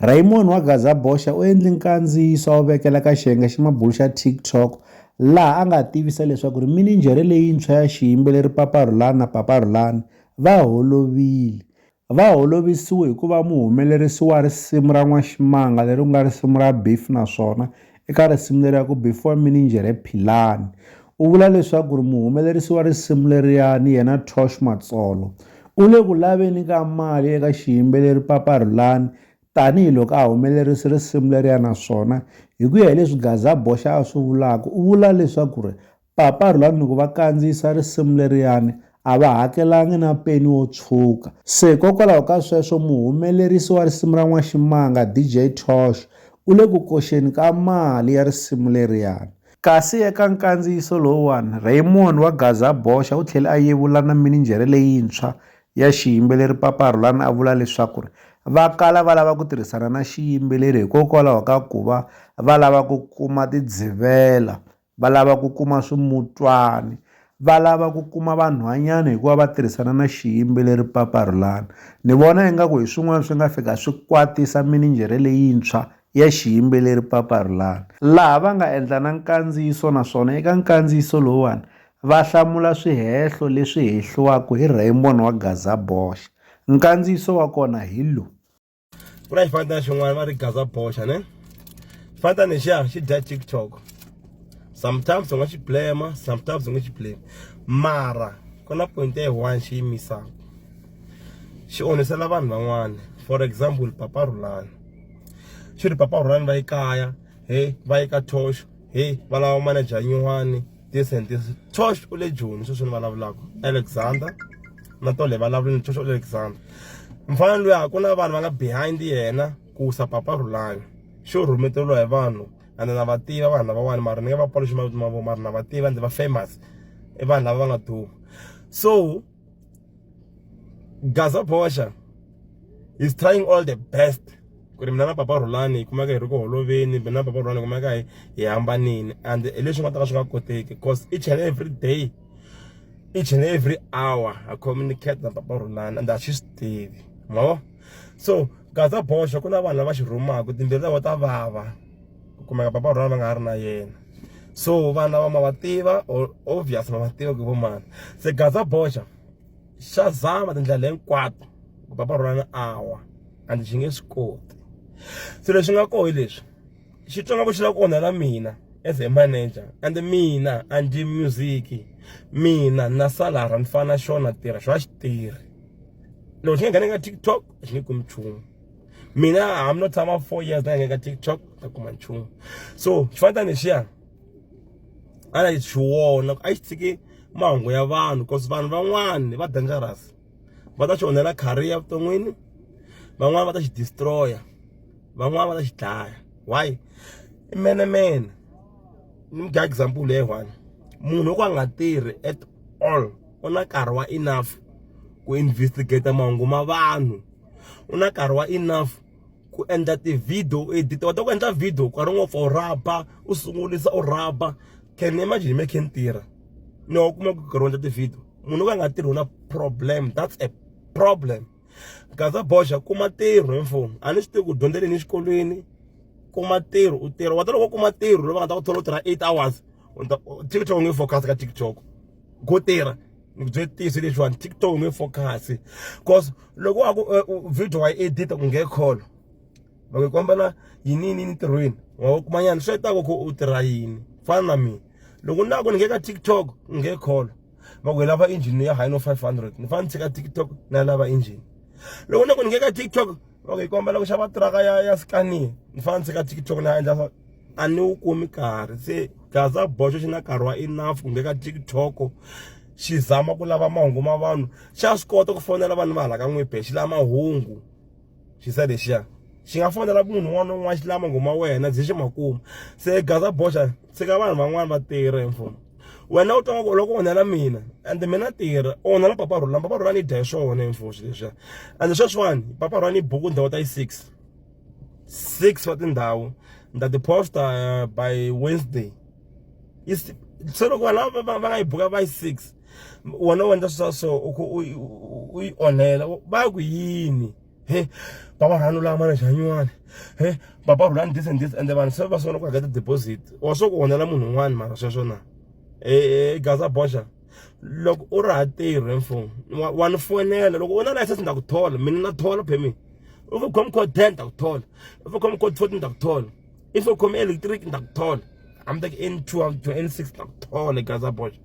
Raymond wa Gaza Bosha u endle nkandziyiso a wu vekela ka xiyenge xa mabulu xa TikTok laha a nga tivisa leswaku ri mininjhere leyintshwa ya xiyimbeleri Papa Rhulani na Papa Rhulani va holovile. Va holovisiwe hi ku va muhumelerisi wa risimu ra N'waximanga leri ku nga risimu ra Beef naswona Eka risimu leriya ku Before Mininjhere Philani, u vula leswaku ri muhumelerisi wa risimu leriyani yena Tosh Matsolo u le ku laveni ka mali eka xiyimbeleri Papa Rhulani tanihi loko a humelerise risimu leriya naswona hi ku ya hi leswi Gaza Boxa a swi vulaka u vula leswaku ri Papa Rhulani loko va kandziyisa risimu leriyani a va hakelangi na peni wo tshwuka. Se hikokwalaho ka sweswo muhumelerisi wa risimu ra N'waximanga, DJ Tosh, u le ku koxeni ka mali ya risimu leriyani. Kasi eka nkandziyiso lowuwani, Raymond wa Gaza Boxa u tlhele a yevula na mininjhere leyintshwa ya xiyimbeleri Papa Rhulani a vula leswaku ri va kala va lava ku tirhisana na xiyimbeleri hikokwalaho ka ku va va lava ku kuma tidzivela va lava ku kuma swimutwani va lava ku kuma vanhwanyana hikuva va tirhisana na xiyimbeleri Papa Rhulani ni vona ingaku hi swin'wana swi nga fika swi kwatisa mininjhere leyintshwa ya xiyimbeleri Papa Rhulani laha va nga endla na nkandziyiso naswona eka nkandziyiso lowuwani va hlamula swihehlo leswi hehliwaku hi Raymond wa Gaza Bosh nkandziyiso wa kona hi lowu. ku na xifanatana xin'wana va ri gaza boxa ne xifanatana lexiya xi dya tiktok sometimes u nga xi blema sometimes u nga xi blame mara ku na point ya one xi yimisaka xi onhisela vanhu van'wana for example papa rhulani xi ri papa rhulani va yi kaya he va yi ka thoxo he va lava manager nyuwani this and this tosh u le joni sweswi ni vulavulaka alexander na tole vulavulini tosh u le alexander mfana loyi a ku na vanhu va nga behind yena ku sa papa rhulani xo rhumeteriwa hi vanhu and na va tiva vanhu lavawani mara ni nge va paluxi mavito ma vona mara na va tiva ndzi va famous i vanhu lava va nga duma so Gaza Bosha is trying all the best ku ri mina na papa Rhulani hi kumeka hi ri ku holoveni mina na papa Rhulani hi kumeka hi hi hambanile and hi leswi nga ta ka swi nga koteki cause each and every day each and every hour ha communicate na papa Rhulani and a swi swi tivi ma vo so Gaza Bosha ku na vanhu lava xi rhumaka timbilu ta vona ta vava ku kumeka papa Rhulani va nga ha ri na yena. so vana va ma va tiva or obvious ma va tiva ku i vo mani se gaza boxa xa zama tindlela hinkwato ku papa rhulani a wa and xi nge swi koti se leswi nga koho hi leswi xi twa nga ku xi lava ku onhela mina as a manager and mina a ndzi music mina na salara ni fana xona tirha xo a xi tirhi loko xi nga nghena ka tiktok a xi nge kumi nchumu mina i'm not tshama four years na ngeka tiktok ta kuma nchumu so xifanita lexiya a na xi wona a xi tshike mahungu ya vanhu cause vanhu van'wani va dangerous va ta xi onhela career vuton'wini van'wani va ta xi destroya van'wani va ta xi dlaya why i mene mene ni mudya example leyi one munhu wo ka a nga tirhi at all u na nkarhi wa enough ku investigate mahungu ma vanhu u na nkarhi wa enough ku endla ti-video u edit u kota ku endla video nkarhi wun'we for rhaba u sungurisa u rhaba can imagine me khe ni tirha ni wa kuma ku nkarhi wo endla ti-video munhu wo ka a nga tirhi u na problem that's a problem gaza boxa kuma ntirho hi mfumo a ni swi tivi ku dyondzeleni exikolweni kuma ntirho u tirha wa ta loko u kuma ntirho loyi va nga ta ku thola u tirha eight hours tiktok u nge focus ka tiktok go tirha ni ku bye tisi leswiwani tiktok nge focus cause loko wa ku eh, video wa yi edita ku nge call va ku komba na yinini entirhweni wa wu kuma nyana swi hetaka ku u tirha yini fana na mina loko ni lava ku ni nge ka tiktok nge call va ku hi lava engine ya high no five hundred ni fanele ni tshika tiktok na lava engine loko ni ku ni nge ka tiktok loko hi kombela ku xava tiraka ya ya scania ni fana ni tshika tiktok ni ya endla swa a ni wu kumi karhi se gaza boxo xi na nkarhi wa enough ku ngheka tiktok xi zama ku lava mahungu ma vanhu xa swi kota ku fonela vanhu va hala ka n'wibe xi lava mahungu xi se lexiya xi nga fonela munhu un'wana na un'wana xi lava mahungu ma wena byi xi ma kuma se gaza boxa tshika vanhu van'wani va tirha hi mfumo wena u twa ngaku u lava ku onhela mina and mina tirha u onhela papa rhulani papa rhulani i dya hi swona hinfoxi leswiya and sweswiwani papa rhulani i buku ndhawu ta yi six six wa tindhawu ni ta ti-posta eh, by wednesday se loko vanhu lava va nga yi buka va yi six wena u endla swi swa so u onhela va ku yini he baba rhanu la mane xanyuwani he baba rhulani this and this ende vanhu se va sungula ku hakela deposit wa swo ku onhela munhu un'wana mara sweswo na e gaza boxa loko u ri ha tirhe mfumo wa ni fonela loko u na license na ku thola mina na thola permit if u khome code ten ta ku thola if u khome code fourteen ta ku thola i swo khome electric ni ta ku thola hambi ta ku n twelve to n six ni ta ku thola gaza boxa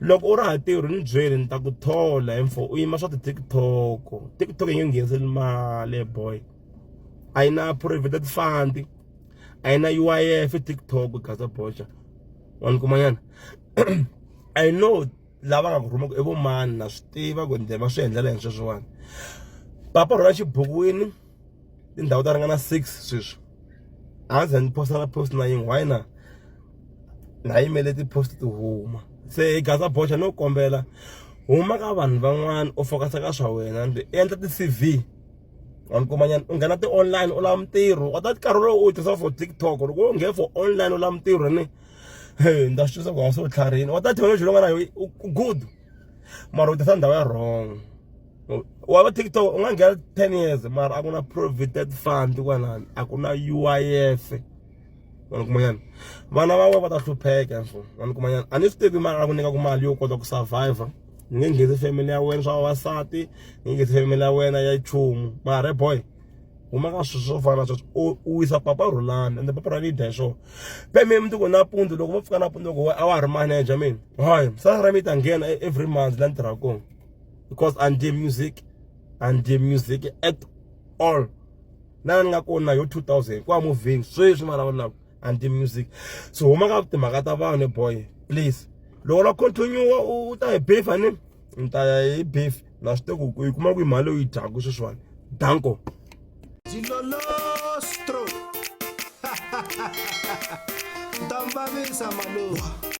loko u ri ha tirhi ni byeli ni ta ku thola hi mfo u yima swa ti-tiktok tiktok yi nge ngheniseli mali boy a yi na provident fund a yi na uif tiktok gaza boxa wa ni kumanyana i know lava nga ku rhumaka i vomani na swi tiva ku nde va swi endlela hi sweswiwani papa rhula xibukwini tindhawu to ringana six sweswi a ndzi za ndzi post na post na yin'we why na na yimele ti post ti huma se hi gaza boxa no kombela huma ka vanhu van'wana u focus ka swa wena ndzi endla ti CV wa nkomanyana u nghena ti online u lava mintirho wa ta nkarhi lowu u tirhisa for TikTok loko u nghena for online u lava mintirho ni hey ndza swi twisa ku wa se u tlharini wa ta thekinoloji loyi nga na yo good mara u tirhisa ndhawu ya wrong. waba tiktok ungangena 10 years mara a ku na provident fund kwalani a ku na uif wani kumanyana vana van'we va ta hlupheka so wani kumanyana a ni swi tivi mara a ku nyikaku mali yo kota ku survivor ni nge nghenisi family ya wena swa vavasati ni nge nghenisi family ya wena ya chumu mara boy huma ka swilo swo fana sweswo u wisa papa rhulani ende papa rhulani yi dya hi swona pe mi mundzuku nampundzu loko vo pfuka nampundzu loko a wa ha ri manager mina hayi sala ra mi ta nghena e-, every month la ni tirhaka kona because a ndzi music a ndzi music at all na ni nga kona yo 2000 kwa moving sweswi mara wona a ndzi music so huma ka timhaka ta vanhu boy please loko la continue u ta hi beef ani ni ta ya hi beef na swi teku ku yi kuma ku yi mali u yi dyaku sweswiwani danko Dilolostro. Dambavisa maluwa.